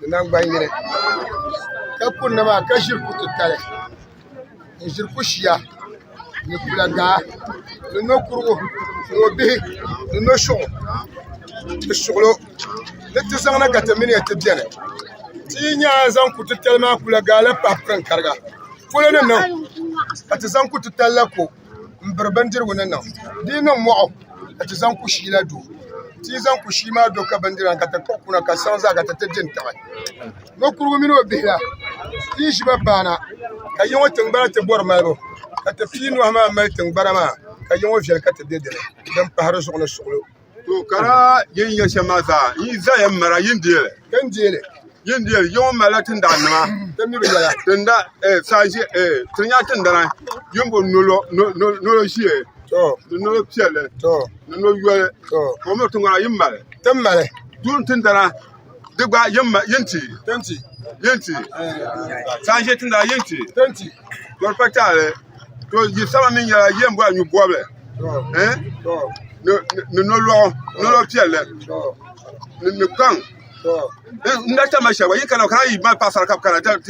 ni naŋgban yini ka kunna maa ka ʒiri ku titali n ʒiri ku shia ni kpula gahi ni nokurigu ni o bihi ni no suɣu ni suɣulo ni ti zaŋ na ka ti mini ya ti biɛni ti yi nya zaŋ ku titali maa kpula gahi la pahi pirin'kariga polo ni niŋ ka ti zaŋ ku titali la ko n biri bindirigu ni niŋ di yi niŋ moɣu ka ti zaŋ kushii la do ti yi zaŋ kushii la do ka bindira maa ka ti kpuɣi kuna ka saɣam zaa ka ti ti di n tiɣi ninkurigu mini o bihi la ti yi ʒiba paana ka yɛ ŋɔ tingbana ti bori malibu ka ti pii nuhi maa mali tingbana maa ka yɛ ŋɔ viɛli ka ti bɛ dinni din pahari zuɣu ni suɣulo To kara yin nya shɛm maa zaa n yi zaya m-mara yin deeli. Ka n deeli. Yin deeli yiŋɔ malila tindaa nima. Ka mi bi yɛla. Tinda eh saa ʒe eh ti nya tindana yin bo nolo nolo nolo ʒee. To. Ni nolo piɛlli. To. Ni nolo yoli. To. Ka o mi tiŋgbana yin mali. Ti mali. Duuni tindana di gba yin ti yin ti saan ʒɛ tinda yin ti to pa taali to yi sama mi nyɛla yɛn bɔri nyu bɔbili ni nolɔɣu nolɔɣu piɛlli ni kpaŋ n na tama shɛli gba yi kana kana yi mali paɣasara ka bi kana